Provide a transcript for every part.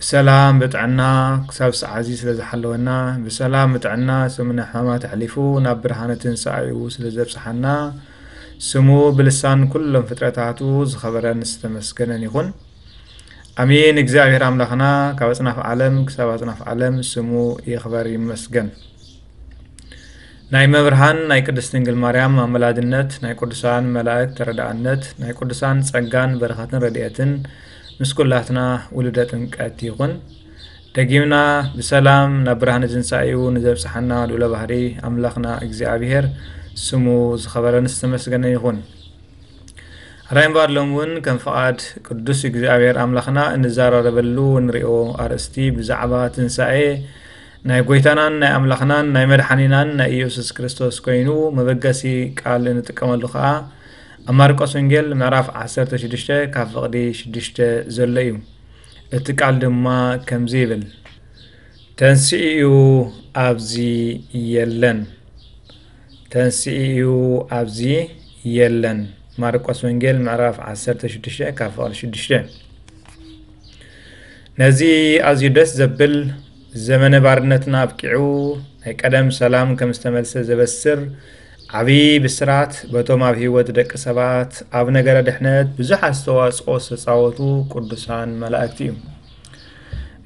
ብሰላም ብጥዕና ክሳብ ሰዓዚ ስለ ዝሓለወና ብሰላም ብጥዕና ሰሙነ ሕማማት ኣሕሊፉ ናብ ብርሃነ ትንሳኤኡ ስለ ዘብጽሓና ስሙ ብልሳን ኩሎም ፍጥረታቱ ዝኸበረን ዝተመስገነን ይኹን ኣሜን እግዚኣብሔር ኣምላኽና ካብ ኣጽናፍ ዓለም ክሳብ ኣጽናፍ ዓለም ስሙ ይኽበር ይመስገን ናይ መብርሃን ናይ ቅድስት ድንግል ማርያም ኣመላድነት ናይ ቅዱሳን መላእክት ተረዳእነት ናይ ቅዱሳን ጸጋን በረኸትን ረድኤትን ምስ ኩላትና ውሉደ ጥምቀት ይኹን። ደጊምና ብሰላም ናብ ብርሃነ ትንሳኤኡ ንዘብጽሓና ልዑለ ባህሪ ኣምላኽና እግዚኣብሔር ስሙ ዝኸበረን ዝተመስገነ ይኹን። ራይ እምበር ሎም እውን ከም ፍቓድ ቅዱስ እግዚኣብሔር ኣምላኽና እንዘራረበሉ እንሪኦ ኣርእስቲ ብዛዕባ ትንሣኤ ናይ ጎይታናን ናይ ኣምላኽናን ናይ መድሓኒናን ናይ ኢየሱስ ክርስቶስ ኮይኑ መበገሲ ቃል እንጥቀመሉ ከዓ ኣብ ማርቆስ ወንጌል ምዕራፍ ዓሰርተ ሽዱሽተ ካብ ፍቕዲ ሽዱሽተ ዘሎ እዩ። እቲ ቃል ድማ ከምዚ ይብል ተንስኢኡ ኣብዚ የለን ተንስኢኡ ኣብዚ የለን ማርቆስ ወንጌል ምዕራፍ 16 ካብ ፍቕዲ 6 ነዚ ኣዝዩ ደስ ዘብል ዘመነ ባርነትና ኣብቂዑ ናይ ቀደም ሰላም ከም ዝተመልሰ ዘበስር ዓቢ ብስራት በቶም ኣብ ህይወት ደቂ ሰባት ኣብ ነገረ ድሕነት ብዙሕ ኣስተዋጽኦ ዝተጻወቱ ቅዱሳን መላእክቲ እዩ።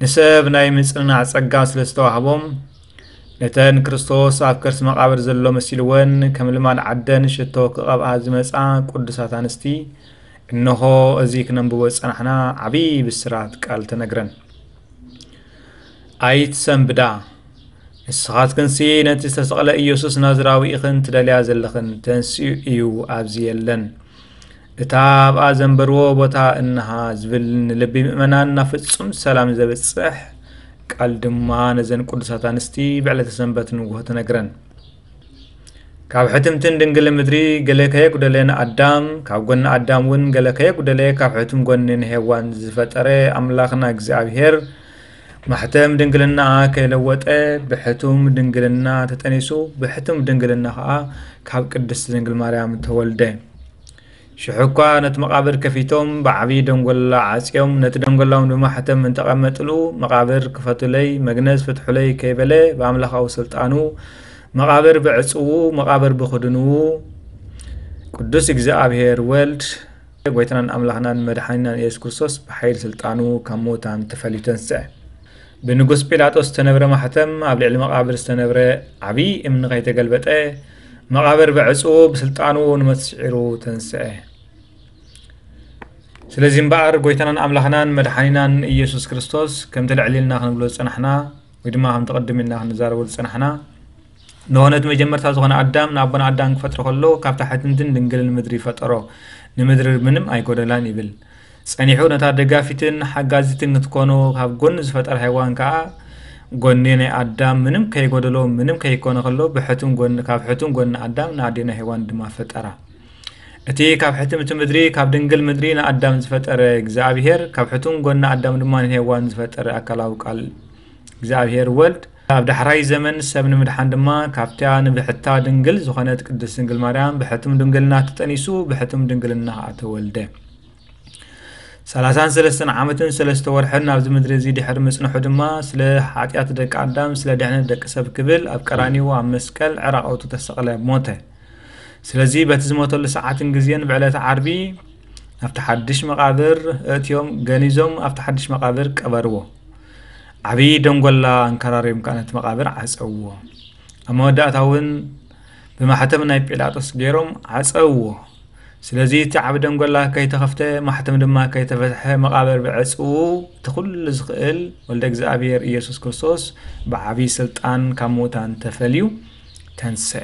ንሰብ ናይ ምጽንናዕ ጸጋ ስለ ዝተዋህቦም ነተን ክርስቶስ ኣብ ከርሲ መቓብር ዘሎ መሲልወን ከም ልማድ ዓደን ሽቶ ክቐብኣ ዝመጻ ቅዱሳት ኣንስቲ እነሆ እዚ ክነንብቦ ዝጸናሕና ዓብዪ ብስራት ቃል ተነግረን ኣይትሰንብዳ ንስኻትክንሲ ነቲ ዝተሰቕለ ኢየሱስ ናዝራዊ ኢኽን ትደልያ ዘለኽን፣ ተንሲኡ እዩ ኣብዚ የለን። እታ ኣብኣ ዘንበርዎ ቦታ እንሃ ዝብል ንልቢ ምእመናን ናብ ፍጹም ሰላም ዘብጽሕ ቃል ድማ ነዘን ቅዱሳት ኣንስቲ ብዕለተ ሰንበት ንግሆ ተነግረን። ካብ ሕትምትን ድንግል ምድሪ ገለ ከየጉደለ ንኣዳም ካብ ጎኒ ኣዳም እውን ገለ ከየጉደለ ካብ ሕቱም ጎኒ ንሄዋን ዝፈጠረ ኣምላኽና እግዚኣብሄር ማሕተም ድንግልናኣ ከይለወጠ ብሕቱም ድንግልና ተጠኒሱ ብሕቱም ድንግልና ከዓ ካብ ቅድስት ድንግል ማርያም ተወልደ። ሽሑ እኳ ነቲ መቓብር ከፊቶም ብዓብዪ ደንጎላ ዓፅዮም ነቲ ደንጎላውን ብማሕተም እንተቐመጥሉ መቓብር ክፈቱለይ መግነዝ ፍትሑለይ ከይበለ ብኣምላኻዊ ስልጣኑ መቓብር ብዕፅዉ መቓብር ብኽድንዉ ቅዱስ እግዚኣብሔር ወልድ ጎይታናን ኣምላኽናን መድሓኒናን ኢየሱስ ክርስቶስ ብሓይሊ ስልጣኑ ካብ ምዉታን ተፈልዩ ተንስዐ። ብንጉስ ጲላጦስ ዝተነብረ ማሕተም ኣብ ልዕሊ መቓብር ዝተነብረ ዓብዪ እምኒ ከይተገልበጠ መቓብር ብዕጹ ብስልጣኑ ንመት ስዒሩ ተንስዐ። ስለዚ እምበኣር ጎይታናን ኣምላኽናን መድሓኒናን ኢየሱስ ክርስቶስ ከምቲ ልዕል ኢልና ክንብሎ ዝጸናሕና ወይ ድማ ከምቲ ቅድም ኢልና ክንዛረበሉ ዝጸናሕና ንሆነ እቲ መጀመርታ ዝኾነ ኣዳም ንኣቦና ኣዳም ክፈጥሮ ከሎ ካብታ ሕትምትን ድንግልን ምድሪ ፈጠሮ ንምድሪ ምንም ኣይጎደላን ይብል ጸኒሑ ነታ ደጋፊትን ሓጋዚትን ክትኮኑ ካብ ጎኒ ዝፈጠራ ሄዋን ከኣ ጎኒ ናይ ኣዳም ምንም ከይጎደሎ ምንም ከይኮነ ከሎ ብሕቱም ጎኒ ካብ ሕቱም ጎኒ ኣዳም ንኣዴና ሄዋን ድማ ፈጠራ እቲ ካብ ሕትምቲ ምድሪ ካብ ድንግል ምድሪ ንኣዳም ዝፈጠረ እግዚኣብሄር ካብ ሕቱም ጎኒ ኣዳም ድማ ንሄዋን ዝፈጠረ ኣካላዊ ቃል እግዚኣብሄር ወልድ ኣብ ዳሕራይ ዘመን ሰብ ንምድሓን ድማ ካብታ ንብሕታ ድንግል ዝኾነት ቅድስት ድንግል ማርያም ብሕቱም ድንግልና ተጠኒሱ ብሕቱም ድንግልና ኸኣ ተወልደ። ሰላሳን ሰለስተን ዓመትን ሰለስተ ወርሕን ኣብዚ ምድሪ እዚ ድሕሪ ምጽንሑ ድማ ስለ ሓጢኣት ደቂ ኣዳም ስለ ድሕነት ደቂ ሰብ ክብል ኣብ ቀራኒዎ ኣብ መስቀል ዕራቐቱ ተሰቕለ ሞተ። ስለዚ በቲ ዝሞተሉ ሰዓትን ግዜን ብዕለተ ዓርቢ ናብቲ ሓድሽ መቓብር እእትዮም ገኒዞም ኣብቲ ሓድሽ መቓብር ቀበርዎ። ዓብዪ ደንጎላ ኣንከራርዮም ከኣ ነቲ መቓብር ዓጸውዎ። ኣብ መወዳእታ እውን ብማሕተም ናይ ጲላጦስ ገይሮም ዓጸውዎ። ስለዚ እቲ ዓቢ ደንጎላ ከይተኸፍተ ማሕተም ድማ ከይተፈትሐ መቓብር ብዕጽዉ እቲ ኩሉ ዝኽእል ወልደ እግዚኣብሔር ኢየሱስ ክርስቶስ ብዓብዪ ስልጣን ካብ ምዉታን ተፈልዩ ተንስአ።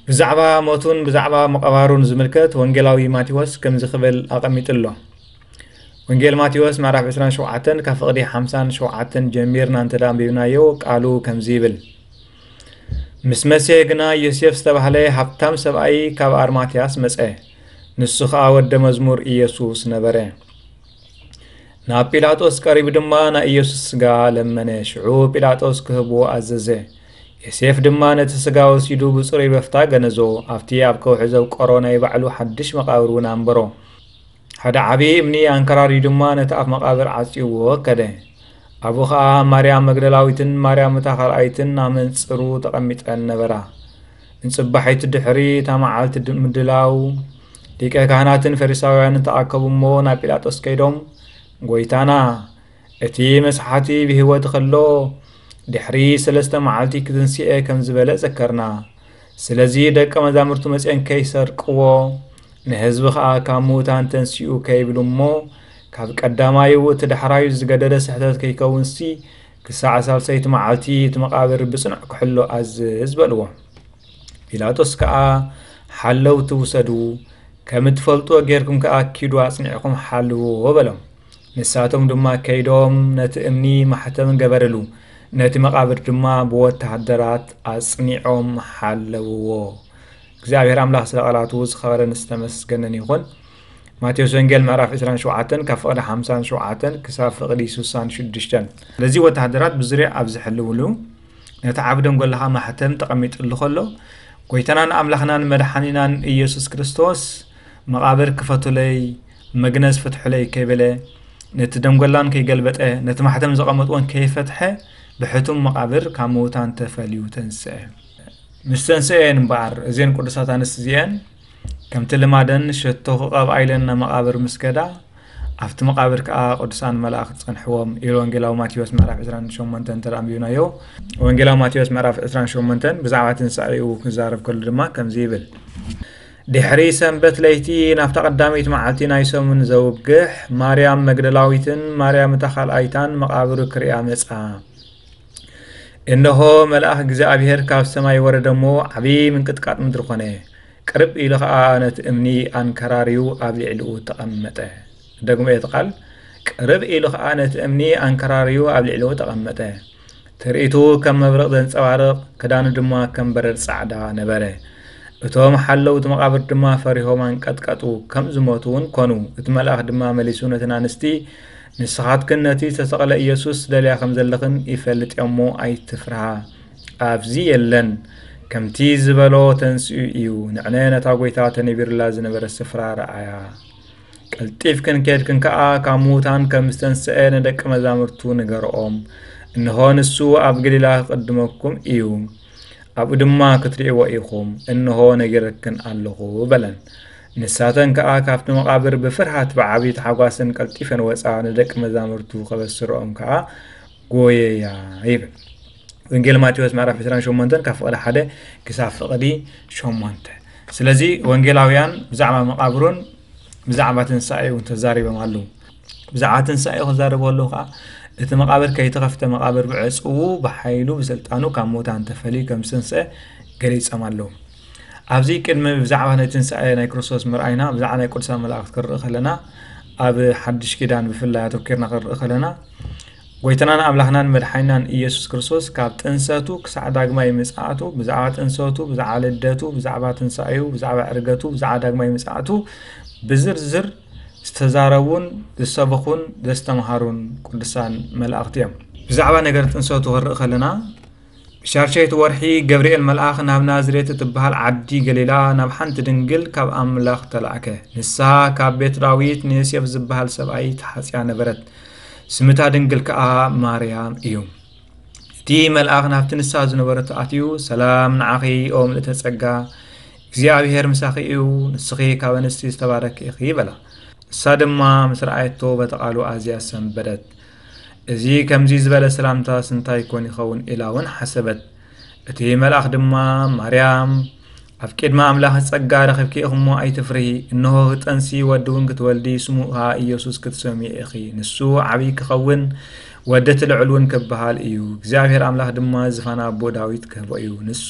ብዛዕባ ሞቱን ብዛዕባ ምቕባሩን ዝምልከት ወንጌላዊ ማቴዎስ ከምዚ ክብል ኣቐሚጡ ኣሎ። ወንጌል ማቴዎስ ምዕራፍ 27 ካብ ፍቕዲ 57 ጀሚርና እንተ ኣንቢብናዮ ቃሉ ከምዚ ይብል ምስ መሰ ግና ዮሴፍ ዝተባህለ ሃብታም ሰብኣይ ካብ ኣርማትያስ መጸ ንሱ ኸኣ ወደ መዝሙር ኢየሱስ ነበረ ናብ ጲላጦስ ቀሪቡ ድማ ናይ ኢየሱስ ስጋ ለመነ ሽዑ ጲላጦስ ክህቦ ኣዘዘ ዮሴፍ ድማ ነቲ ስጋ ወሲዱ ብጽሩይ በፍታ ገነዞ ኣብቲ ኣብ ከውሒ ዘብቀሮ ናይ ባዕሉ ሓድሽ መቓብር እውን ኣንበሮ ሓደ ዓብዪ እምኒ ኣንከራርዩ ድማ ነቲ ኣፍ መቓብር ዓጽዩዎ ከደ። ኣብኡ ኸኣ ማርያም መግደላዊትን ማርያም እታ ካልኣይትን ኣብ መንጽሩ ተቐሚጠን ነበራ። እንጽባሒቱ ድሕሪ እታ መዓልቲ ምድላው ሊቀ ካህናትን ፈሪሳውያንን ተኣከቡ እሞ ናብ ጲላጦስ ከይዶም ጐይታና እቲ መስሓቲ ብህይወት ኸሎ ድሕሪ ሰለስተ መዓልቲ ክትንስኤ ከም ዝበለ ዘከርና ስለዚ ደቀ መዛሙርቱ መፅኦም ከይሰርቅዎ ንህዝቢ ከዓ ካብ ምዉታን ተንሲኡ ከይብሉ እሞ ካብ ቀዳማዩ እቲ ዳሕራዩ ዝገደደ ስሕተት ከይከውንሲ ክሳዕ ሳልሰይቲ መዓልቲ እቲ መቓብር ብጽኑዕ ክሕሎ ኣዝዝ በልዎ ጲላጦስ ከዓ ሓለውቲ ውሰዱ ከም እትፈልጥዎ ጌርኩም ከዓ ኪዱ ኣጽኒዕኹም ሓልውዎ በሎም ንሳቶም ድማ ከይዶም ነቲ እምኒ ማሕተም ገበርሉ፣ ነቲ መቓብር ድማ ብወተሃደራት ኣጽኒዖም ሓለውዎ። እግዚኣብሔር ኣምላኽ ስለ ቃላቱ ዝኸበረን ዝተመስገነን ይኹን። ማቴዎስ ወንጌል ምዕራፍ 27 ካብ ፍቕዲ 57 ክሳብ ፍቕዲ 66 ስለዚ ወተሃደራት ብዙርያ ኣብ ዝሕልውሉ ነቲ ዓብ ደንጎልኻ ማሕተም ተቐሚጥሉ ከሎ ጎይታናን ኣምላኽናን መድሓኒናን ኢየሱስ ክርስቶስ መቓብር ክፈቱለይ መግነዝ ፍትሑለይ ከይበለ፣ ነቲ ደንጐላን ከይገልበጠ፣ ነቲ ማሕተም ዘቐመጥዎን ከይፈትሐ፣ ብሕቱም መቓብር ካብ ምዉታን ተፈልዩ ተንስኤ። ምስ ተንስኤ እየን እምበኣር እዘን ቅዱሳት ኣንስት እዚኤን ከምቲ ልማደን ሸቶ ክቐብኣ ኢለን ናብ መቓብር ምስ ከዳ ኣብቲ መቃብር ከዓ ቅዱሳን መላእክት ጸንሕዎም ኢሉ ወንጌላዊ ማቴዎስ ምዕራፍ 28 እንተ ኣንቢብናዮ ወንጌላዊ ማቴዎስ ምዕራፍ 28 ብዛዕባ ትንሳኤኡ ክዛረብ ከሉ ድማ ከምዚ ይብል ድሕሪ ሰንበት ለይቲ ናብታ ቀዳመይቲ መዓልቲ ናይ ሰሙን ዘውግሕ፣ ማርያም መግደላዊትን ማርያም እታ ካልኣይታን መቓብሩ ክርእያ መጻ። እንሆ መልኣኽ እግዚኣብሔር ካብ ሰማይ ወረደ እሞ ዓብዪ ምንቅጥቃጥ ምድሪ ኮነ። ቅርብ ኢሉ ኸዓ ነቲ እምኒ ኣንከራርዩ ኣብ ልዕሊኡ ተቐመጠ። ደግሞ እቲ ቃል ቅርብ ኢሉ ኸዓ ነቲ እምኒ ኣንከራርዩ ኣብ ልዕሊኡ ተቐመጠ። ትርኢቱ ከም መብርቕ ዘንጸባርቕ፣ ክዳኑ ድማ ከም በረድ ጻዕዳ ነበረ። እቶም ሓለውቲ መቓብር ድማ ፈሪሆም ኣንቀጥቀጡ፣ ከም ዝሞቱ እውን ኰኑ። እቲ መልኣኽ ድማ መሊሱ ነተን ኣንስቲ፣ ንስኻትክን ነቲ ዝተሰቕለ ኢየሱስ ትደልያ ከም ዘለኽን ይፈልጥ እየ እሞ፣ ኣይትፍርሃ። ኣብዚ የለን። ከምቲ ዝበሎ ተንሲኡ እዩ። ንዕነ ነታ ጐይታ ተነቢሩላ ዝነበረ ስፍራ ረኣያ። ቀልጢፍክን ኬድክን ከኣ ካብ ምዉታን ከም ዝተንስኤ ንደቂ መዛሙርቱ ንገርኦም። እንሆ ንሱ ኣብ ገሊላ ክቕድመኩም እዩ፣ ኣብኡ ድማ ክትርእይዎ ኢኹም፣ እንሆ ነጊረክን ኣለኹ በለን። ንሳተን ከኣ ካብቲ መቓብር ብፍርሃት ብዓብዪ ታሕጓስን ቀልጢፈን ወጻ፣ ንደቂ መዛሙርቱ ከበስርኦም ከኣ ጎየያ ይብል ወንጌል ማቴዎስ ምዕራፍ 28 ካብ ፍቕዲ ሓደ ክሳብ ፍቕዲ ሸሞንተ ስለዚ ወንጌላውያን ብዛዕባ መቓብሩን ብዛዕባ ትንሳኤ እውን ተዛሪቦም ኣለዉ ብዛዕባ ትንሳኤ ክዛረቡ ኣለዉ ከዓ እቲ መቃብር ከይተኸፍተ መቃብር ብዕፅዉ ብሓይሉ ብስልጣኑ ካብ ሞታን ተፈልዩ ከም ዝተንስአ ገሊፆም ኣለዉ ኣብዚ ቅድሚ ብዛዕባ ናይ ትንሳኤ ናይ ክርስቶስ ምርኣይና ብዛዕባ ናይ ቅዱሳን መላእክት ክንርኢ ከለና ኣብ ሓድሽ ኪዳን ብፍላይ ኣተኪርና ክንርኢ ከለና ጎይታናን ኣምላኽናን መድሓይናን ኢየሱስ ክርስቶስ ካብ ጥንሰቱ ክሳዕ ዳግማይ ምጽኣቱ ብዛዕባ ጥንሰቱ ብዛዕባ ልደቱ ብዛዕባ ትንሳኤኡ ብዛዕባ ዕርገቱ ብዛዕባ ዳግማይ ምጽኣቱ ብዝርዝር ዝተዛረቡን ዝሰበኹን ዘስተምሃሩን ቅዱሳን መላእኽቲ እዮም ብዛዕባ ነገር ጥንሰቱ ክንርኢ ከለና ሻድሸይቲ ወርሒ ገብርኤል መልኣኽ ናብ ናዝሬት እትበሃል ዓዲ ገሊላ ናብ ሓንቲ ድንግል ካብ ኣምላኽ ተላእከ። ንሳ ካብ ቤት ዳዊት ንዮሴፍ ዝበሃል ሰብኣይ ተሓጽያ ነበረት፣ ስምታ ድንግል ከኣ ማርያም እዩ። እቲ መልኣኽ ናብቲ ንሳ ዝነበረቶ ኣትዩ ሰላም ንዓኺ ኦ ምልእተ ጸጋ እግዚኣብሄር ምሳኺ እዩ፣ ንስኺ ካብ ኣንስቲ ዝተባረኪ ኢኺ በላ። ንሳ ድማ ምስ ረኣየቶ በቲ ቃሉ ኣዝያ ሰንበደት። እዚ ከምዚ ዝበለ ሰላምታስ እንታይ ኮን ይኸውን ኢላ እውን ሓሰበት። እቲ መልኣኽ ድማ ማርያም ኣብ ቅድሚ ኣምላኽ ጸጋ ረኺብኪ ኢኹሞ ኣይትፍርሂ፣ እንሆ ክጠንሲ ወዲ እውን ክትወልዲ ስሙ ኸኣ ኢየሱስ ክትሰምዮ ኢኺ፣ ንሱ ዓብዪ ክኸውን ወዲ እቲ ልዑል እውን ክበሃል እዩ፣ እግዚኣብሔር ኣምላኽ ድማ ዝፋን ኣቦ ዳዊት ክህቦ እዩ፣ ንሱ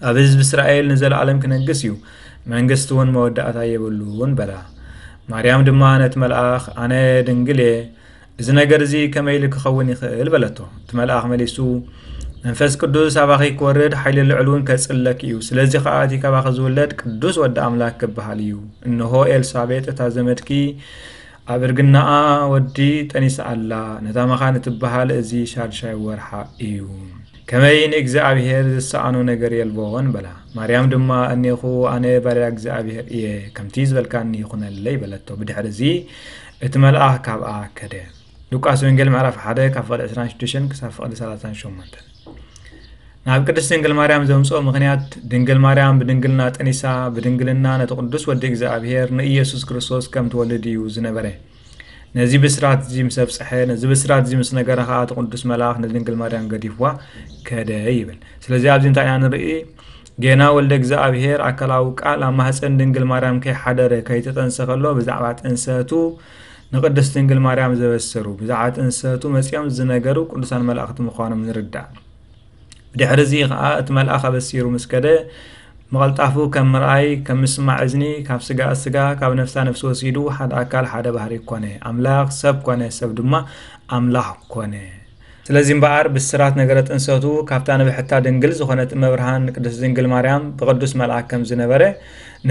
ኣብ ህዝቢ እስራኤል ንዘለኣለም ክነግስ እዩ፣ መንግስቲ እውን መወዳእታ የብሉን በላ። ማርያም ድማ ነቲ መልኣኽ ኣነ ድንግል እየ፣ እዚ ነገር እዚ ከመይ ኢሉ ክኸውን ይኽእል በለቶ። እቲ መልኣኽ መሊሱ መንፈስ ቅዱስ ኣባኺ ክወርድ ሓይሊ ልዑል እውን ከጽለኪ እዩ፣ ስለዚ ከኣ እቲ ካባኺ ዝውለድ ቅዱስ ወዲ ኣምላክ ክበሃል እዩ። እንሆ ኤልሳቤጥ እታ ዘመድኪ ኣብ እርግናኣ ወዲ ጠኒሳ ኣላ፣ ነታ መኻን እትበሃል እዚ ሻድሻይ ወርሓ እዩ። ከመይ ንእግዚኣብሔር ዝሰኣኖ ነገር የልቦን በላ። ማርያም ድማ እኔኹ ኣነ ባርያ እግዚኣብሔር እየ፣ ከምቲ ዝበልካኒ ይኹነለይ በለቶ። ብድሕርዚ እቲ መልኣኽ ካብኣ ከደ። ሉቃስ ወንጌል ምዕራፍ 1 ካብ ፍቕዲ 26 ክሳብ ፍቕዲ 38 ናብ ቅድስት ድንግል ማርያም ዘምፅኦ ምክንያት ድንግል ማርያም ብድንግልና ጠኒሳ ብድንግልና ነቲ ቅዱስ ወዲ እግዚኣብሔር ንኢየሱስ ክርስቶስ ከም ትወልድ እዩ ዝነበረ ነዚ ብስራት እዚ ምስ ኣብፀሐ ነዚ ብስራት እዚ ምስ ነገረ ከዓ እቲ ቅዱስ መልኣኽ ንድንግል ማርያም ገዲፍዋ ከደ ይብል ስለዚ ኣብዚ እንታይ ኢና ንርኢ ጌና ወልደ እግዚኣብሄር ኣካላዊ ቃል ኣብ ማህፀን ድንግል ማርያም ከይሓደረ ከይተጠንሰ ከሎ ብዛዕባ ጥንሰቱ ንቅድስት ድንግል ማርያም ዘበሰሩ ብዛዕባ ጥንሰቱ መፂኦም ዝነገሩ ቅዱሳን መላእኽቲ ምዃኖም ንርዳእ ብድሕሪ እዚ ኸኣ እቲ መልኣኽ ኣበሲሩ ምስ ከደ ምቐልጣፉ ከም ምርኣይ ከም ምስማዕ እዝኒ ካብ ስጋኣ ስጋ ካብ ነፍሳ ነፍሲ ወሲዱ ሓደ ኣካል ሓደ ባህሪ ኮነ ኣምላኽ ሰብ ኮነ ሰብ ድማ ኣምላኽ ኮነ ስለዚ እምበኣር ብስራት ነገረ ጥንሰቱ ካብታ ንብሕታ ድንግል ዝኾነት እመብርሃን ቅድስት ድንግል ማርያም ብቅዱስ መልኣክ ከም ዝነበረ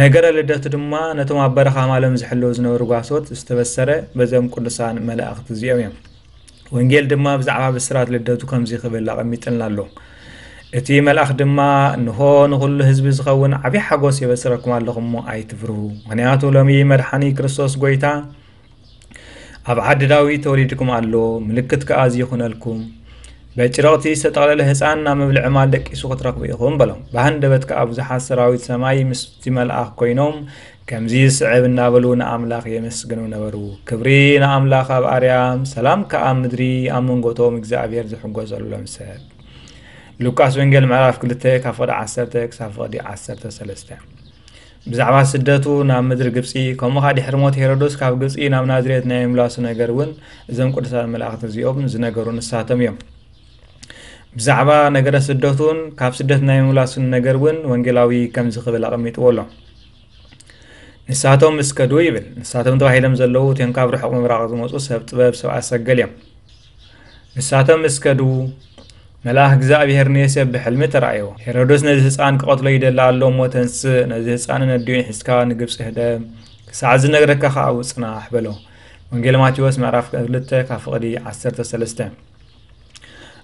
ነገረ ልደቱ ድማ ነቶም ኣብ በረኻ ማሎም ዝሕለዉ ዝነበሩ ጓሶት ዝተበሰረ በዞም ቅዱሳን መላእኽቲ እዚኦም እዮም ወንጌል ድማ ብዛዕባ ብስራት ልደቱ ከምዚ ክብል ኣቐሚጥልና ኣሎ። እቲ መልኣኽ ድማ እንሆ ንዅሉ ህዝቢ ዝኸውን ዓብዪ ሓጐስ የበስረኩም ኣለኹ እሞ ኣይትፍርሁ፣ ምኽንያቱ ሎሚ መድሓኒ ክርስቶስ ጐይታ ኣብ ዓዲ ዳዊት ተወሊድኩም ኣሎ፣ ምልክት ከኣ እዚ ይኹነልኩም፣ በጭረቕቲ ዝተጠቕለለ ህፃን ናብ መብልዒ ማል ደቂሱ ክትረኽቡ ኢኹም በሎም። ብሃንደበት ከኣ ብዙሓት ሰራዊት ሰማይ ምስቲ መልኣኽ ኰይኖም ከምዚ ዝስዕብ እናበሉ ንኣምላኽ የመስግኑ ነበሩ፣ ክብሪ ንኣምላኽ ኣብ ኣርያም፣ ሰላም ከኣ ኣብ ምድሪ፣ ኣብ መንጎ እቶም እግዚኣብሔር ዝሕጐሰሎም ሰብ። ሉቃስ ወንጌል ምዕራፍ 2 ካብ ፍቕዲ 10 ክሳብ ፍቕዲ 13 ብዛዕባ ስደቱ ናብ ምድሪ ግብፂ ከምኡ ከዓ ድሕሪ ሞት ሄሮዶስ ካብ ግብፂ ናብ ናዝሬት ናይ ምምላሱ ነገር እውን እዞም ቅዱሳት መላእኽቲ እዚኦም ዝነገሩ ንሳቶም እዮም ብዛዕባ ነገረ ስደቱን ካብ ስደት ናይ ምምላሱን ነገር እውን ወንጌላዊ ከምዚ ክብል ኣቐሚጥዎ ኣሎ ንሳቶም ምስ ከዱ ይብል ንሳቶም ተባሂሎም ዘለዉ እቶም ካብ ርሑቕ ምብራቕ ዝመፁ ሰብ ጥበብ ሰብ ኣሰገል እዮም ንሳቶም ምስ ከዱ መልኣኽ እግዚኣብሄር ንዮሴፍ ብሕልሚ ተራእዮ ሄሮዶስ ነዚ ህፃን ክቐትሎ ይደሊ ኣሎ እሞ ተንስእ ነዚ ህፃንን ኣዲኡን ሒዝካ ንግብፂ ህደም ክሳዕ ዝነግረካ ከዓ ውፅናሕ በሎ ወንጌል ማቴዎስ ምዕራፍ 2 ካብ ፍቕዲ 13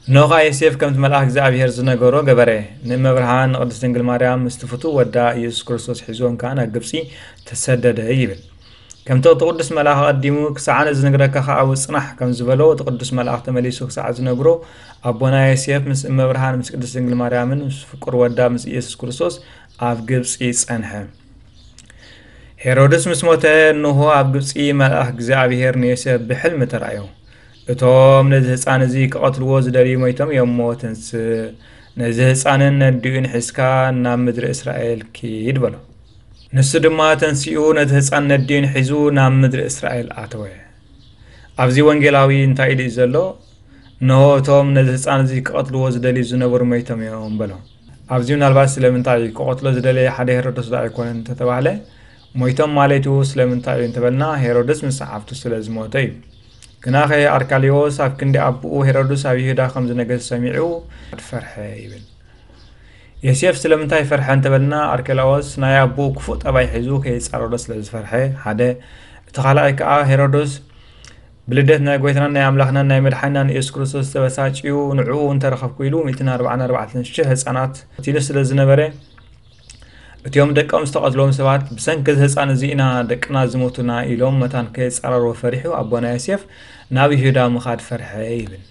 እነሆኻ ዮሴፍ ከምቲ መልኣኽ እግዚኣብሔር ዝነገሮ ገበረ። ንእመብርሃን ንቅድስት ድንግል ማርያም ምስቲ ፍቱው ወዳ ኢየሱስ ክርስቶስ ሒዞን ከኣ ናብ ግብጺ ተሰደደ ይብል። ከምቲ እቲ ቅዱስ መልኣኽ ኣቐዲሙ ክሳዕ ኣነ ዝንግረካ ከኣ ውጽናሕ ከም ዝበሎ እቲ ቅዱስ መልኣኽ ተመሊሱ ክሳዕ ዝነግሮ ኣቦና ዮሴፍ ምስ እመብርሃን ምስ ቅድስት ድንግል ማርያምን ምስ ፍቁር ወዳ ምስ ኢየሱስ ክርስቶስ ኣብ ግብጺ ጸንሐ። ሄሮድስ ምስ ሞተ እንሆ ኣብ ግብጺ መልኣኽ እግዚኣብሔር ንዮሴፍ ብሕልሚ ተራእዮ። እቶም ነዚ ህጻን እዚ ክቐትልዎ ዝደልዩ ሞይቶም እዮም እሞ ተንስእ፣ ነዚ ህጻንን ነዲኡን ሒዝካ ናብ ምድሪ እስራኤል ኪድ በሎ። ንሱ ድማ ተንሲኡ ነቲ ህጻን ነዲኡን ሒዙ ናብ ምድሪ እስራኤል ኣተወ። ኣብዚ ወንጌላዊ እንታይ ኢሉ እዩ ዘሎ? እነሆ እቶም ነዚ ህጻን እዚ ክቐትልዎ ዝደልዩ ዝነበሩ ሞይቶም እዮም በሎም። ኣብዚ ምናልባት ስለምንታይ እዩ ክቐትሎ ዝደለየ ሓደ ሄሮዶስ ዶ ኣይኮነን እንተተባህለ ሞይቶም ማለቱ ስለምንታይ እዩ እንተበልና ሄሮድስ ምስ ሰዓብቱ ስለ ዝሞተ እዩ። ግናኸ ኣርቃሌዎስ ኣብ ክንዲ ኣቦኡ ሄሮድስ ኣብ ይሁዳ ከም ዝነገስ ሰሚዑ ፈርሐ ይብል ዮሴፍ ስለምንታይ ፈርሐ እንተበልና ኣርኬላዎስ ናይ ኣቦኡ ክፉእ ጠባይ ሒዙ ከይጻረሮ ስለ ዝፈርሐ ሓደ እቲ ካልኣይ ከዓ ሄሮዶስ ብልደት ናይ ጎይታናን ናይ ኣምላኽናን ናይ መድሓናን የሱስ ክርስቶስ ዝተበሳጭዩ ንዕኡ እንተረኸብኩ ኢሉ 144 ሽሕ ህፃናት ቲኑ ስለ ዝነበረ እቲኦም ደቆም ዝተቐትሎም ሰባት ብሰንኪ እዚ ህፃን እዚ ኢና ደቅና ዝሞቱና ኢሎም መታን ከየፃረርዎ ፈሪሑ ኣቦና ዮሴፍ ናብ ይሁዳ ምኻድ ፈርሐ ይብል።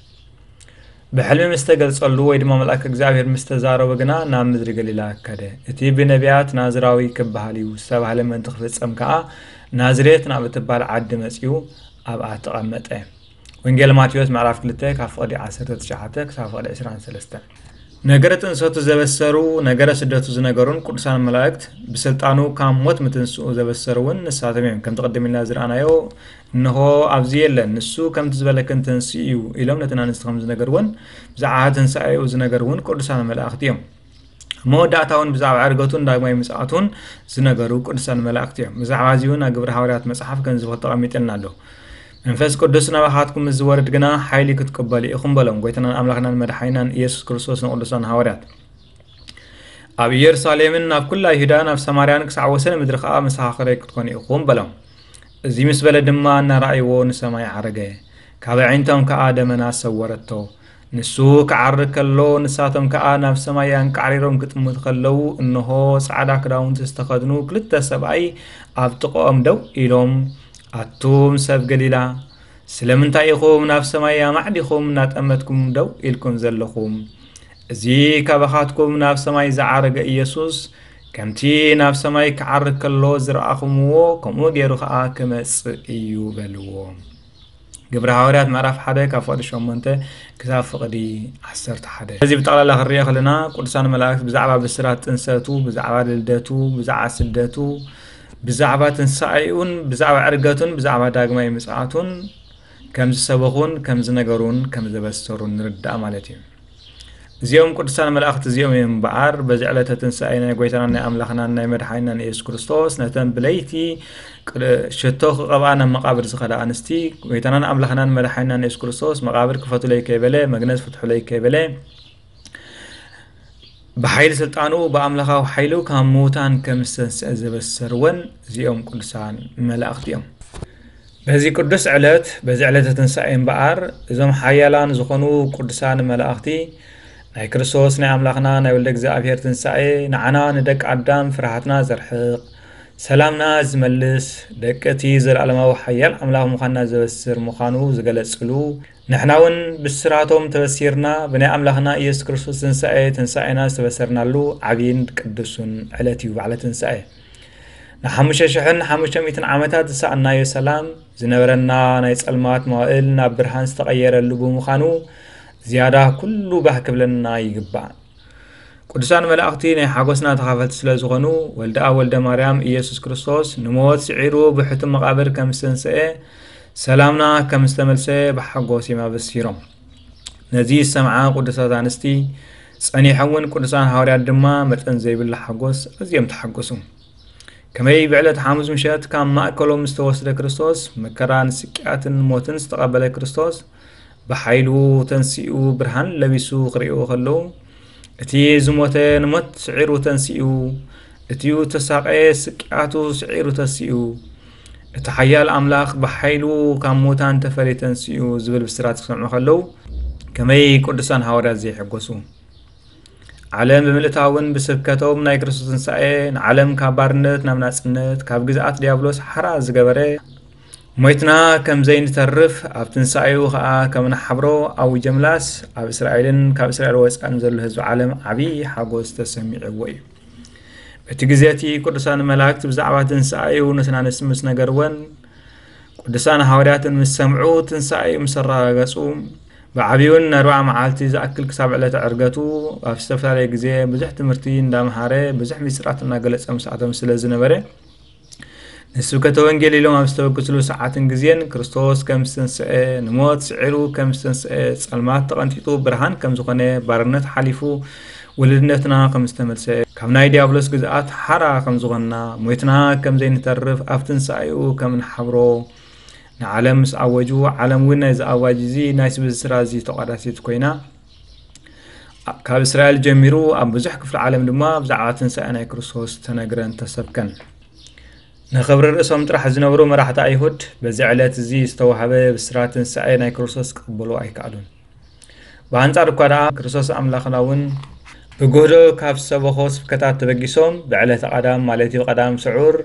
ብሕልሚ ምስ ተገልጸሉ ወይ ድማ መልኣክ እግዚኣብሔር ምስ ተዛረቦ ግና ናብ ምድሪ ገሊላ ከደ እቲ ብነቢያት ናዝራዊ ክበሃል እዩ ዝተባህለ ምእንቲ ክፍጸም ከኣ ናዝሬት ናብ እትበሃል ዓዲ መጺኡ ኣብኣ ተቐመጠ ወንጌል ማቴዎስ ምዕራፍ 2 ካብ ፍቕዲ 19 ክሳብ ፍቕዲ 23 ነገረ ጥንሰቱ ዘበሰሩ ነገረ ስደቱ ዝነገሩን ቅዱሳን መላእክት ብስልጣኑ ካብ ሞት ምትንስኡ ዘበሰሩ እውን ንሳቶም እዮም ከምቲ ቅድም ኢልና ዝረኣናዮ እንሆ ኣብዚ የለን ንሱ ከምቲ ዝበለክን ተንስኡ እዩ ኢሎም ነተን ኣንስቲ ከም ዝነገርዎን ብዛዕባ ትንሳኤኡ ዝነገርውን ቅዱሳን መላእክት እዮም መወዳእታ እውን ብዛዕባ ዕርገቱን ዳግማይ ምጽኣቱን ዝነገሩ ቅዱሳን መላእክቲ እዮም ብዛዕባ እዚ እውን ኣብ ግብሪ ሃዋርያት መጽሓፍ ከም ዝብል ተቐሚጥልና ኣሎ መንፈስ ቅዱስ ናባኻትኩም ምስ ዝወርድ ግና ሓይሊ ክትቅበሉ ኢኹም በሎም ጎይታናን ኣምላኽናን መድሓይናን ኢየሱስ ክርስቶስ ንቅዱሳን ሃዋርያት ኣብ ኢየሩሳሌምን ናብ ኩላ ይሁዳን ኣብ ሰማርያን ክሳዕ ወሰን ምድሪ ከዓ መሰኻኽረይ ክትኮኑ ኢኹም በሎም እዚ ምስ በለ ድማ እናረኣይዎ ንሰማይ ዓረገ፣ ካብ ኣዒንቶም ከኣ ደመና ሰወረቶ። ንሱ ክዓርግ ከሎ፣ ንሳቶም ከኣ ናብ ሰማይ ኣንቃዕሪሮም ክጥምቱ ከለዉ፣ እንሆ፣ ጻዕዳ ክዳውንቲ ዝተኸድኑ ክልተ ሰብኣይ ኣብ ጥቓኦም ደው ኢሎም፣ ኣቱም ሰብ ገሊላ፣ ስለምንታይ ኢኹም ናብ ሰማይ ኣማዕዲኹም እናጠመትኩም ደው ኢልኩም ዘለኹም? እዚ ካባኻትኩም ናብ ሰማይ ዝዓረገ ኢየሱስ፣ ከምቲ ናብ ሰማይ ክዓርግ ከሎ ዝረኣኹምዎ ከምኡ ገይሩ ከዓ ክመፅእ እዩ በልዎ ግብሪ ሃዋርያት ምዕራፍ ሓደ ካብ ፍቕዲ ሸሞንተ ክሳብ ፍቕዲ ዓሰርተ ሓደ እዚ ብጠቕላላ ክንሪኦ ከለና ቅዱሳን መላእክት ብዛዕባ ብስራት ጥንሰቱ ብዛዕባ ልደቱ ብዛዕባ ስደቱ ብዛዕባ ትንሳኤኡን ብዛዕባ ዕርገቱን ብዛዕባ ዳግማይ ምጽኣቱን ከም ዝሰበኹን ከም ዝነገሩን ከም ዘበሰሩን ንርዳእ ማለት እዩ እዚኦም ቅዱሳን መላእኽቲ እዚኦም እዮም እምበኣር በዚ ዕለተ ትንሣኤ ናይ ጐይታናን ናይ ኣምላኽናን ናይ መድሓኒናን ኢየሱስ ክርስቶስ ነተን ብለይቲ ሽቶ ክቐብኣ ናብ መቓብር ዝኸዳ ኣንስቲ ጐይታናን ኣምላኽናን መድሓኒናን ኢየሱስ ክርስቶስ መቓብር ክፈቱለይ ከይበለ መግነዝ ፍትሑለይ ከይበለ ብሓይሊ ስልጣኑ ብኣምላኻዊ ሓይሉ ካብ ምዉታን ከም ዝተንስአ ዘበሰርወን እዚኦም ቅዱሳን መላእኽቲ እዮም በዚ ቅዱስ ዕለት በዚ ዕለተ ትንሣኤ እምበኣር እዞም ሓያላን ዝኾኑ ቅዱሳን መላእኽቲ ናይ ክርስቶስ ናይ ኣምላኽና ናይ ወልደ እግዚኣብሔር ትንሣኤ ንዓና ንደቂ ኣዳም ፍርሃትና ዘርሕቕ ሰላምና ዝመልስ ደቂ እቲ ዘለዓለማዊ ሓያል ኣምላኽ ምዃንና ዘበስር ምዃኑ ዝገለጽሉ ንሕና እውን ብስራቶም ተበሲርና ብናይ ኣምላኽና ኢየሱስ ክርስቶስ ትንሣኤ ትንሣኤና ዝተበሰርናሉ ዓብይን ቅዱሱን ዕለት እዩ በዓለ ትንሣኤ ንሓሙሽተ ሽሕን ሓሙሽተ ሚእትን ዓመታት ዝሰኣናዮ ሰላም ዝነበረና ናይ ጸልማት መዋእል ናብ ብርሃን ዝተቐየረሉ ብምዃኑ ዝያዳ ኩሉ ባህ ክብለና ይግባእ ቅዱሳን መላእኽቲ ናይ ሓጎስና ተኻፈልቲ ስለ ዝኾኑ ወልደኣ ወልደ ማርያም ኢየሱስ ክርስቶስ ንሞት ስዒሩ ብሕቱ መቓብር ከም ዝተንስአ ሰላምና ከም ዝተመልሰ ብሓጎስ እዮም ኣበሲሮም ነዚ ዝሰምዓ ቅዱሳት ኣንስቲ ጸኒሖምውን ቅዱሳን ሃዋርያት ድማ መጠን ዘይብሉ ሓጎስ ኣዝዮም ተሓጎሱ ከመይ ብዕለት ሓሙስ ምሸት ካብ ማእከሎም ዝተወስደ ክርስቶስ መከራን ስቅያትን ሞትን ዝተቐበለ ክርስቶስ ብሓይሉ ተንስኡ ብርሃን ለቢሱ ክርእዩ ከለዉ እቲ ዝሞተ ንሞት ስዒሩ ተንስኡ እቲዩ ተሳቀየ ስቅያቱ ስዒሩ ተስኡ እቲ ሓያል ኣምላኽ ብሓይሉ ካብ ሙታን ተፈልየ ተንስኡ ዝብል ብስራት ክሰምዑ ከለዉ ከመይ ቅዱሳን ሃዋርያት ዘይሕጎሱ ዓለም ብምልእታውን ብስብከቶም ናይ ክርስቶስ ትንሳኤ ንዓለም ካብ ባርነት ናብ ናጽነት ካብ ግዝኣት ዲያብሎስ ሓራ ዝገበረ ሞይትና ከም ዘይንተርፍ ኣብ ትንሳኤኡ ኸኣ ከም ንሓብሮ ኣውጀምላስ ኣብ እስራኤልን ካብ እስራኤል ወጻእን ዘሎ ህዝቢ ዓለም ዓብዪ ሓጎስ ተሰሚዕዎ እዩ በቲ ግዜ እቲ ቅዱሳን መላእክቲ ብዛዕባ ትንሣኤኡ ንስናንስ ምስ ነገርወን ቅዱሳን ሃዋርያትን ምስ ሰምዑ ትንሣኤኡ ምስ ኣረጋገጹ ብዓብዩን ንኣርብዓ መዓልቲ ዝኣክል ክሳብ ዕለተ ዕርገቱ ኣብ ዝተፈላለየ ግዜ ብዙሕ ትምህርቲ እንዳምሃረ ብዙሕ ምስጢራት እናገለጸ ምስኣቶም ስለ ዝነበረ ንስብከተ ወንጌል ኢሎም ኣብ ዝተበግስሉ ሰዓትን ግዜን ክርስቶስ ከም ዝተንስአ ንሞት ስዒሩ ከም ዝተንስአ ጸልማት ተቐንጢጡ ብርሃን ከም ዝኾነ ባርነት ሓሊፉ ውልድነትና ከም ዝተመልሰ ካብ ናይ ዲያብሎስ ግዝኣት ሓራ ከም ዝኾንና ሞይትና ከም ዘይንተርፍ ኣብ ትንሳኤኡ ከም ንሓብሮ ንዓለም ምስ ኣወጁ ዓለም እውን ናይዚ ኣዋጅ እዚ ናይ ስብዝስራ እዚ ተቋዳሲት ኮይና ካብ እስራኤል ጀሚሩ ኣብ ብዙሕ ክፍሊ ዓለም ድማ ብዛዕባ ትንሳኤ ናይ ክርስቶስ ተነግረን ተሰብከን ንኽብሪ ርእሶም ጥራሕ ዝነብሩ መራሕቲ ኣይሁድ በዚ ዕለት እዚ ዝተዋህበ ብስራት ትንሳኤ ናይ ክርስቶስ ክቕበሉ ኣይከኣሉን ብኣንጻር እኳ ደኣ ክርስቶስ ኣምላኽና እውን ብግህዶ ካብ ሰበኾ ስብከታት ተበጊሶም ብዕለተ ቀዳም ማለት እዩ ቀዳም ስዑር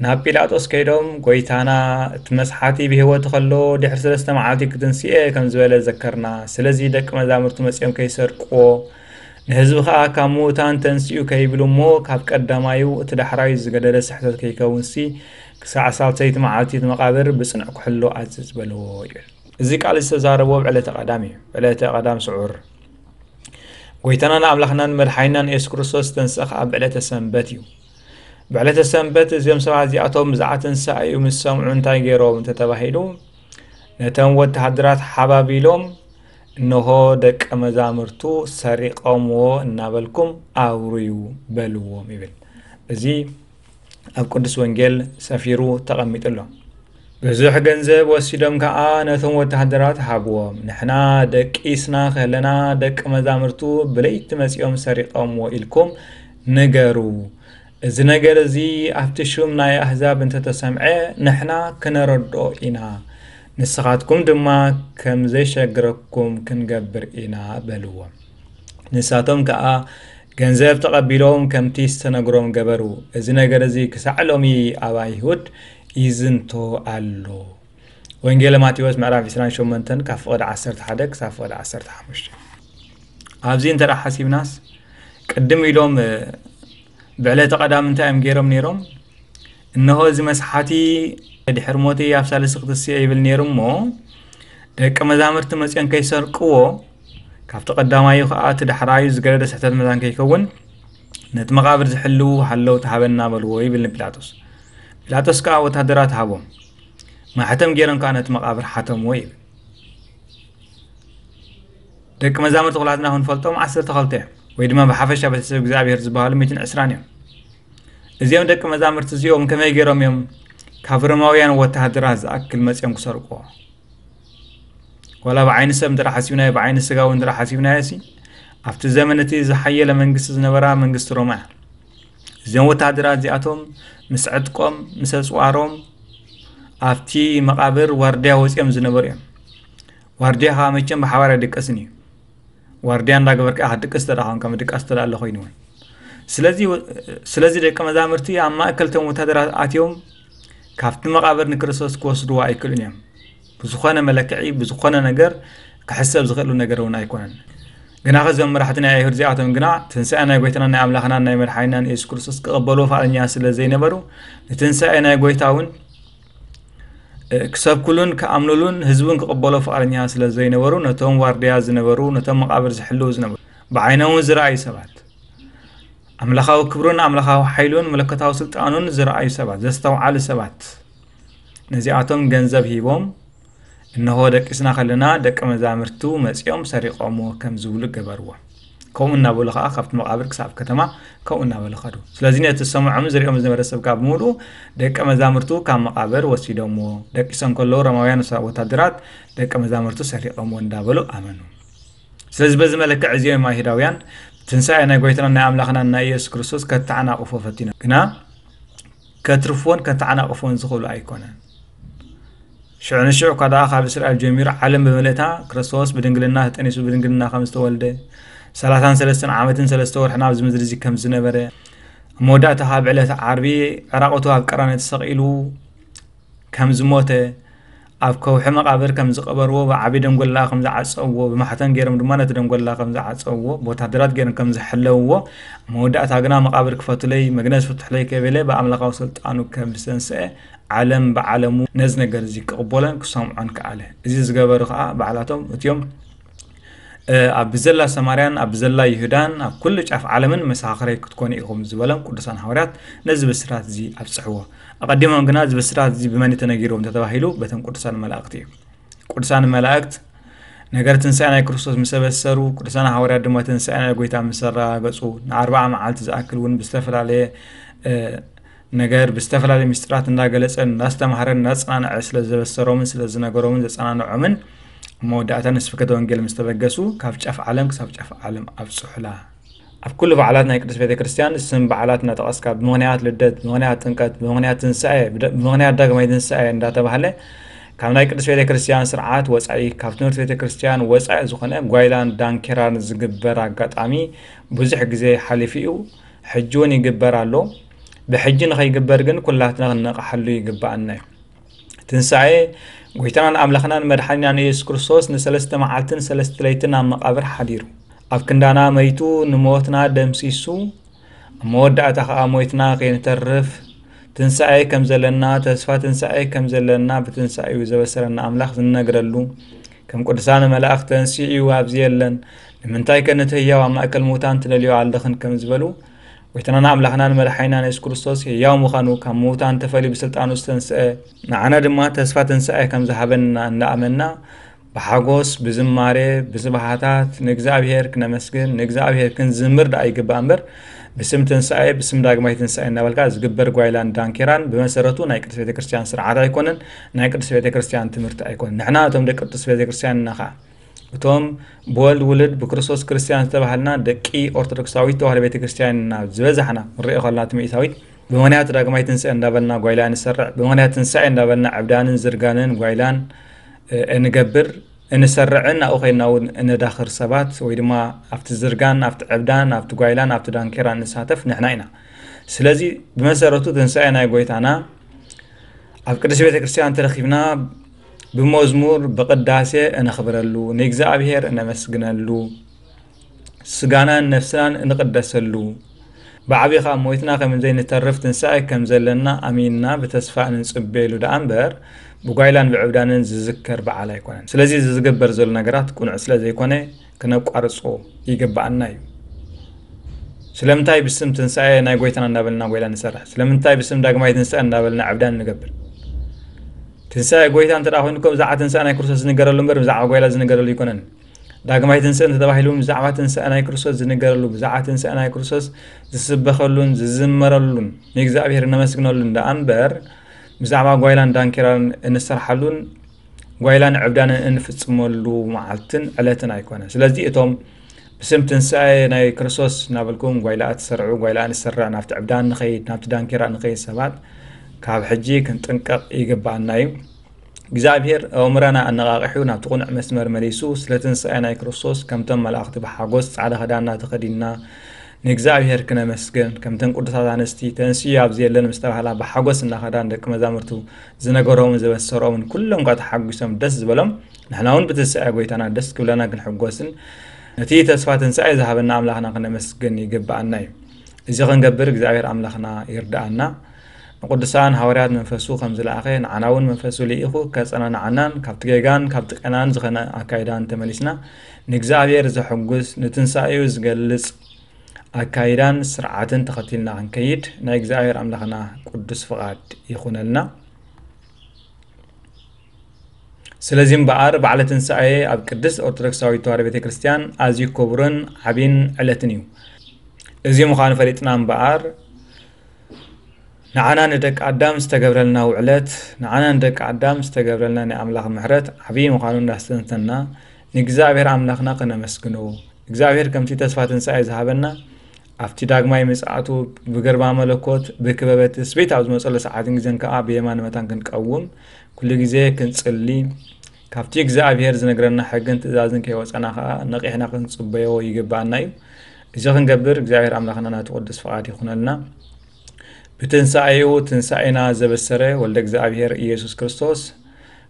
ናብ ጲላጦስ ከይዶም ጎይታና እቲ መስሓቲ ብሕይወቱ ከሎ ድሕሪ ስለስተ መዓልቲ ክትንስኤ ከም ዝበለ ዘከርና ስለዚ ደቂ መዛምርቱ መጺኦም ከይሰርቅዎ ንህዝቢ ከኣ ካብ ምዉታን ተንስኡ ከይብሉ እሞ ካብ ቀዳማዩ እቲ ዳሕራዩ ዝገደደ ስሕተት ከይከውንሲ ክሳዕ ሳልሰይቲ መዓልቲ እቲ መቓብር ብጽኑዕ ክሕሎ ኣዝዝ በልዎ ይብል እዚ ቃል ዝተዛረቦ ኣብ ዕለተ ቀዳም እዩ ዕለተ ቀዳም ስዑር ጎይታናን ኣምላኽናን መድሓኒናን የሱስ ክርስቶስ ዝተንስእ ከኣ ብዕለተ ሰንበት እዩ ብዕለተ ሰንበት እዚኦም ሰባት እዚኣቶም ብዛዕባ ትንሳኤ እዩ ምስ ሰምዑ እንታይ ገይሮም እንተተባሂሉ ነተን ወተሃደራት ሓባቢሎም እንሆ ደቀ መዛሙርቱ ሰሪቐምዎ እናበልኩም ኣውርዩ በልዎም ይብል እዚ ኣብ ቅዱስ ወንጌል ሰፊሩ ተቐሚጡ ኣሎ ብዙሕ ገንዘብ ወሲዶም ከዓ ነቶም ወተሃደራት ሃብዎም ንሕና ደቂስና ከለና ደቂ መዛሙርቱ ብለይቲ መፂኦም ሰሪቐምዎ ኢልኩም ንገሩ፣ እዚ ነገር እዚ ኣብቲ ሹም ናይ ኣህዛብ እንተ ተሰምዐ፣ ንሕና ኽነረድኦ ኢና፣ ንስኻትኩም ድማ ከም ዜሸግረኩም ክንገብር ኢና በልዎም። ንሳቶም ከኣ ገንዘብ ተቐቢሎም ከምቲ ዝተነግሮም ገበሩ። እዚ ነገር እዚ ኽሳዕ ሎሚ ኣብ ኣይሁድ ይዝንቶ ኣሎ። ወንጌለ ማቴዎስ ምዕራፍ 28 ካብ ፍቕዲ 11 ክሳብ ፍቕዲ 15 ኣብዚ እንተ ሓሲብናስ ቅድም ኢሎም ብዕለተ ቀዳም እንታይ እዮም ገይሮም ነይሮም እነሆ እዚ መስሓቲ ድሕሪ ሞት ኣብ ሳልሲ ክትስዮ ይብል ነይሩ እሞ ደቂ መዛምርቲ መፅኦም ከይሰርቅዎ ካብቲ ቀዳማዩ ከዓ እቲ ዳሕራዩ ዝገደደ ስሕተት መዛን ከይከውን ነቲ መቃብር ዝሕልው ሃለው ተሃበና በልዎ ይብል ንጲላጦስ ጲላጦስ ከዓ ወታደራት ሃቦም ማሕተም ገይሮም ከዓ ነቲ መቃብር ሓተምዎ ይብል ደቂ መዛሙርቲ ኩላትና ክንፈልጦም ዓሰርተ ክልተ እዮም ወይ ድማ ብሓፈሻ ቤተሰብ እግዚኣብሄር ዝበሃሉ ሚትን ዕስራን እዮም እዚኦም ደቂ መዛሙርቲ እዚኦም ከመይ ገይሮም እዮም ካብ ሮማውያን ወተሃደራት ዝኣክል መፅኦም ክሰርቅዎ ዋላ ብዓይኒ ሰብ እንተ ሓሲብናዮ ብዓይኒ ስጋዊ እንተ ሓሲብናዮ ሲ ኣብቲ ዘመን እቲ ዝሓየለ መንግስቲ ዝነበራ መንግስቲ ሮማ እያ እዞም ወታሃደራት እዚኣቶም ምስ ዕጥቆም ምስ ኣፅዋሮም ኣብቲ መቓብር ዋርድያ ወፂኦም ዝነበሩ እዮም ዋርድያ ከዓ መቸም ብሓባር ኣይድቀስን እዩ ዋርድያ እንዳገበር ከዓ ክትድቅስ ተዳ ኮንካ ምድቃስ ተዳ ኣሎ ኮይኑ እውን ስለዚ ስለዚ ደቂ መዛምርቲ ኣብ ማእከልቶም ወታደራት ኣትዮም ካብቲ መቓብር ንክርስቶስ ክወስድዎ ኣይክእሉን እዮም ብዝኾነ መለክዒ ብዝኾነ ነገር ክሕሰብ ዝኽእሉ ነገር እውን ኣይኮነን ግና ከዞም መራሕቲ ናይ ኣይሁድ እዚኣቶም ግና ትንሳኤ ናይ ጎይታና ናይ ኣምላኽናን ናይ መድሓኒናን የሱስ ክርስቶስ ክቐበልዎ ፍቓደኛ ስለ ዘይነበሩ ንትንሳኤ ናይ ጎይታ እውን ክሰብክሉን ክኣምኑሉን ህዝቡን ክቕበሎ ፍቓደኛ ስለ ዘይነበሩ ነቶም ዋርድያ ዝነበሩ ነቶም መቓብር ዝሕልው ዝነበሩ ብዓይኖም እውን ዝረኣዩ ሰባት ኣምላኻዊ ክብሩን ኣምላኻዊ ሓይሉን መለኮታዊ ስልጣኑን ዝረኣዩ ሰባት ዘስተውዓሉ ሰባት ነዚኣቶም ገንዘብ ሂቦም እነሆ ደቂስና ከለና ደቂ መዛምርቱ መፂኦም ሰሪቆምዎ ከም ዝብሉ ገበርዎ ከምኡ እናበሉ ከዓ ካብቲ መቃብር ክሳብ ከተማ ከምኡ እናበሉ ከዱ ስለዚ ነቲ ዝሰምዖም ዝሪኦም ዝነበረ ሰብ ካብ ምሉ ደቂ መዛምርቱ ካብ መቃብር ወሲዶምዎ ደቂሶም ከለዉ ሮማውያን ወታደራት ደቂ መዛምርቱ ሰሪቆምዎ እንዳበሉ ኣመኑ ስለዚ በዚ መለክዕ እዚኦም ኣይሁዳውያን ትንሳኤ ናይ ጎይታና ናይ ኣምላኽና ናይ ኢየሱስ ክርስቶስ ከተዓናቅፎ ፈቲኖም ግና ከትርፍዎን ከተዓናቕፍዎን ዝኽእሉ ኣይኮነን። ሽዑ ንሽዑ እኳ ደኣ ካብ እስራኤል ጀሚሩ ዓለም ብምልእታ ክርስቶስ ብድንግልና ተጠኒሱ ብድንግልና ከም ዝተወልደ ሰላሳን ሰለስተን ዓመትን ሰለስተ ወርሕን ኣብዚ ምድሪ እዚ ከም ዝነበረ ኣብ መወዳእታ ካብ ዕለት ዓርቢ ዕራቕቱ ኣብ ቀራንዮ ተሰቒሉ ከም ዝሞተ ኣብ ከውሒ መቓብር ከም ዝቐበርዎ፣ ብዓቢ ደንጎላ ከም ዝዓጸውዎ፣ ብማሕተም ገይሮም ድማ ነቲ ደንጎላ ከም ዝዓጸውዎ፣ ብወተሃደራት ገይሮም ከም ዝሐለውዎ፣ ኣብ መወዳእታ ግና መቓብር ክፈቱለይ፣ መግነዝ ፍቱሕለይ ከይበለ ብኣምላኻዊ ስልጣኑ ከም ዝተንስኤ ዓለም ብዓለሙ ነዚ ነገርዚ ክቕበሎን ክሰምዖን ከኣለ። እዚ ዝገበሩ ከኣ ባዕላቶም እትዮም። ኣብ ብዘላ ሰማርያን ኣብ ብዘላ ይሁዳን ኣብ ኩሉ ጫፍ ዓለምን መሰኻኽረይ ክትኮኑ ኢኹም ዝበሎም ቅዱሳን ሃዋርያት ነዚ ብስራት እዚ ኣብጽሕዎ ኣቐዲሞም ግና እዚ ብስራት እዚ ብመን እዩ ተነጊርዎም እንተተባሂሉ በተን ቅዱሳን መላእክቲ እዩ ቅዱሳን መላእክት ነገር ትንሣኤ ናይ ክርስቶስ ምስ ኣበሰሩ ቅዱሳን ሃዋርያት ድማ ትንሣኤ ናይ ጎይታ ምስ ኣረጋገጹ ንኣርባዓ መዓልቲ ዝኣክል እውን ብዝተፈላለየ ነገር ብዝተፈላለዩ ምስጢራት እንዳገለጸ እንዳስተምሃረን እንዳጸናንዐ ስለ ዘበሰሮምን ስለ ዝነገሮምን ዘጸናንዖምን ኣብ መወዳእታ ንስብከተ ወንጌል ምስ ተበገሱ ካብ ጫፍ ዓለም ክሳብ ጫፍ ዓለም ኣብጽሑላ ኣብ ኩሉ በዓላት ናይ ቅዱስ ቤተ ክርስቲያን ስም በዓላት እናጠቐስካ ብምኽንያት ልደት ብምኽንያት ጥምቀት ብምኽንያት ትንሳኤ ብምኽንያት ዳግማይ ትንሳኤ እንዳተባህለ ካብ ናይ ቅዱስ ቤተ ክርስቲያን ስርዓት ወፃኢ ካብ ትምህርቲ ቤተ ክርስቲያን ወፃኢ ዝኾነ ጓይላን ዳንኬራን ዝግበር ኣጋጣሚ ብዙሕ ግዜ ሓሊፉ እዩ ሕጂ ውን ይግበር ኣሎ ብሕጂ ንኸይግበር ግን ኩላትና ክንነቕሓሉ ይግብኣና እዩ ትንሣኤ ጐይታናን ኣምላኽናን መድሓኒናን ኢየሱስ ክርስቶስ ንሰለስተ መዓልትን ሰለስተ ለይትን ኣብ መቓብር ሓዲሩ ኣብ ክንዳና መይቱ ንሞትና ደምሲሱ ኣብ መወዳእታ ኸዓ ሞይትና ከይንተርፍ ትንሣኤ ከም ዘለና ተስፋ ትንሣኤ ከም ዘለና ብትንሣኤኡ ዘበሰረና ኣምላኽ ዝነግረሉ ከም ቅዱሳነ መላእኽት ተንሲኡ ኣብዚ የለን ንምንታይ ከ ነቲ ህያው ኣብ ማእከል ምዉታን ትደልዮ ኣለኽን ከም ዝበሉ ጎይታናን ኣምላኽናን መድሓኒናን የሱስ ክርስቶስ ህያው ምዃኑ ካብ ምዉታን ተፈልዩ ብስልጣኑ ዝተንስአ ንዓና ድማ ተስፋ ትንሳኤ ከም ዝሃበና እንዳኣመና ብሓጎስ ብዝማሬ ብስብሓታት ንእግዚኣብሄር ክነመስግን ንእግዚኣብሄር ክንዝምር ደኣ ይግባእ እምበር ብስም ትንሳኤ ብስም ዳግማይ ትንሳኤ እናበልካ ዝግበር ጓይላን ዳንኬራን ብመሰረቱ ናይ ቅድስት ቤተ ክርስቲያን ስርዓት ኣይኮነን ናይ ቅዱስ ቤተ ክርስቲያን ትምህርቲ ኣይኮን ንሕና እቶም ደቂ ቅዱስ ቤተ ክርስቲያን እና ከዓ እቶም ብወልድ ውልድ ብክርስቶስ ክርስቲያን ዝተባሃልና ደቂ ኦርቶዶክሳዊት ተዋህዶ ቤተ ክርስቲያን እና ዝበዛሕና ክንሪኦ ከለና እቲ ሚእታዊት ብምክንያት ዳግማይ ትንስኤ እንዳበልና ጓይላ እንሰርዕ ብምክንያት ትንሳኤ እንዳበልና ዕብዳንን ዝርጋንን ጓይላን እንገብር እንሰርዕን ኣብኡ ኮይና እውን እነዳኽር ሰባት ወይ ድማ ኣብቲ ዝርጋን ኣብቲ ዕብዳን ኣብቲ ጓይላን ኣብቲ ዳንኬራ እንሳተፍ ንሕና ኢና ስለዚ ብመሰረቱ ትንሳኤ ናይ ጎይታና ኣብ ቅድስት ቤተ ክርስቲያን ተረኺብና ብመዝሙር ብቅዳሴ እነኽብረሉ ንእግዚኣብሔር እነመስግነሉ ስጋናን ነፍስናን እንቅደሰሉ ብዓቢ ካብ ሞይትና ከም ዘይንተርፍ ትንሳኤ ከም ዘለና ኣሚንና ብተስፋ እንጽበየሉ ደኣ እምበር ብጓይላን ብዕብዳንን ዝዝከር በዓል ኣይኮነን ስለዚ እዚ ዝግበር ዘሎ ነገራት ቅኑዕ ስለ ዘይኮነ ክነቋርጾ ይግብኣና እዩ። ስለምንታይ ብስም ትንሣኤ ናይ ጎይታና እንዳበልና ጎይላ ንሰርሕ? ስለምንታይ ብስም ዳግማይ ትንሣኤ እንዳበልና ዕብዳን ንገብር? ትንሣኤ ጎይታ እንተ ኮይኑ እኮ ብዛዕባ ትንሣኤ ናይ ክርስቶስ ዝንገረሉ እምበር ብዛዕባ ጎይላ ዝንገረሉ ኣይኮነን። ዳግማይ ትንሣኤ እንተተባሂሉ እውን ብዛዕባ ትንሣኤ ናይ ክርስቶስ ዝንገረሉ ብዛዕባ ትንሣኤ ናይ ክርስቶስ ዝስበኸሉን ዝዝመረሉን ንእግዚኣብሔር እነመስግነሉን ደኣ እምበር ብዛዕባ ጓይላን ዳንኪራን እንሰርሓሉን ጓይላን ዕብዳንን እንፍጽመሉ መዓልትን ዕለትን ኣይኮነ ስለዚ እቶም ብስም ትንሳኤ ናይ ክርስቶስ እናበልኩም ጓይላኣ ትሰርዑ ጓይላኣ ንሰራ ናብቲ ዕብዳ ንኸይድ ናብቲ ዳንኬራ ንኸይድ ሰባት ካብ ሕጂ ክንጥንቀቕ ይግባኣና እዩ እግዚኣብሄር ኣእምራና ኣነቓቂሑ ናብቲ ቁኑዕ መስመር መሊሱ ስለ ትንሳኤ ናይ ክርስቶስ ከምቶም መላእኽቲ ብሓጎስ ጻዕዳ ክዳንና ተኸዲንና ንእግዚኣብሔር ክነመስግን ከምተን ቅዱሳት ኣንስቲ ተንስኡ ኣብዚ የለን ምስ ተባህላ ብሓጎስ እናኸዳ ንደቂ መዛሙርቱ ዝነገሮምን ዘበሰሮምን ኩሎም እኳ ተሓጒሶም ደስ ዝበሎም ንሕና እውን ብትንሳኤ ጎይታና ደስ ክብለና ክንሕጎስን ነቲ ተስፋ ትንሳኤ ዝሃበና ኣምላኽና ክነመስግን ይግብኣና እዩ እዚ ክንገብር እግዚኣብሔር ኣምላኽና ይርድኣና ንቅዱሳን ሃዋርያት መንፈሱ ከም ዝለኣኸ ንዓና እውን መንፈሱ ልኢኹ ከጸናንዓናን ካብቲ ጌጋን ካብቲ ቀናን ዝኸነ ኣካይዳን ተመሊስና ንእግዚኣብሔር ዘሕጉስ ንትንሳኤኡ ዝገልጽ ኣካይዳን ስርዓትን ተኸቲልና ክንከይድ ናይ እግዚኣብሔር ኣምላኽና ቅዱስ ፍቓድ ይኹነልና። ስለዚ እምበኣር በዓለ ትንሣኤ ኣብ ቅድስት ኦርቶዶክሳዊት ተዋህዶ ቤተ ክርስቲያን ኣዝዩ ክቡርን ዓብን ዕለትን እዩ። እዚ ምዃኑ ፈሊጥና እምበኣር ንዓና ንደቂ ኣዳም ዝተገብረልና ውዕለት ንዓና ንደቂ ኣዳም ዝተገብረልና ናይ ኣምላኽ ምሕረት ዓብዪ ምዃኑ እንዳስተንተንና ንእግዚኣብሔር ኣምላኽና ከነመስግኖ እግዚኣብሔር ከምቲ ተስፋ ትንሣኤ ዝሃበና ኣብቲ ዳግማይ ምጽኣቱ ብግርማ መለኮት ብክበበ ትስብእት ኣብ ዝመጸሉ ሰዓትን ግዜን ከዓ ብየማነ መታን ክንቀውም ኩሉ ግዜ ክንጽሊ ካብቲ እግዚኣብሄር ዝነግረና ሕግን ትእዛዝን ከይወጸና ከኣ ነቂሕና ክንጽበዮ ይግብኣና እዩ። እዚ ክንገብር እግዚኣብሄር ኣምላኽና ናቱ ቅዱስ ፍቓድ ይኹነልና። ብትንሳኤኡ ትንሳኤና ዘበሰረ ወልደ እግዚኣብሄር ኢየሱስ ክርስቶስ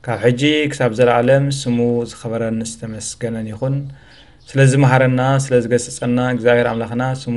ካብ ሕጂ ክሳብ ዘለኣለም ስሙ ዝኸበረን ዝተመስገነን ይኹን። ስለ ዝመሃረና ስለ ዝገስጸና እግዚኣብሄር ኣምላኽና ስሙ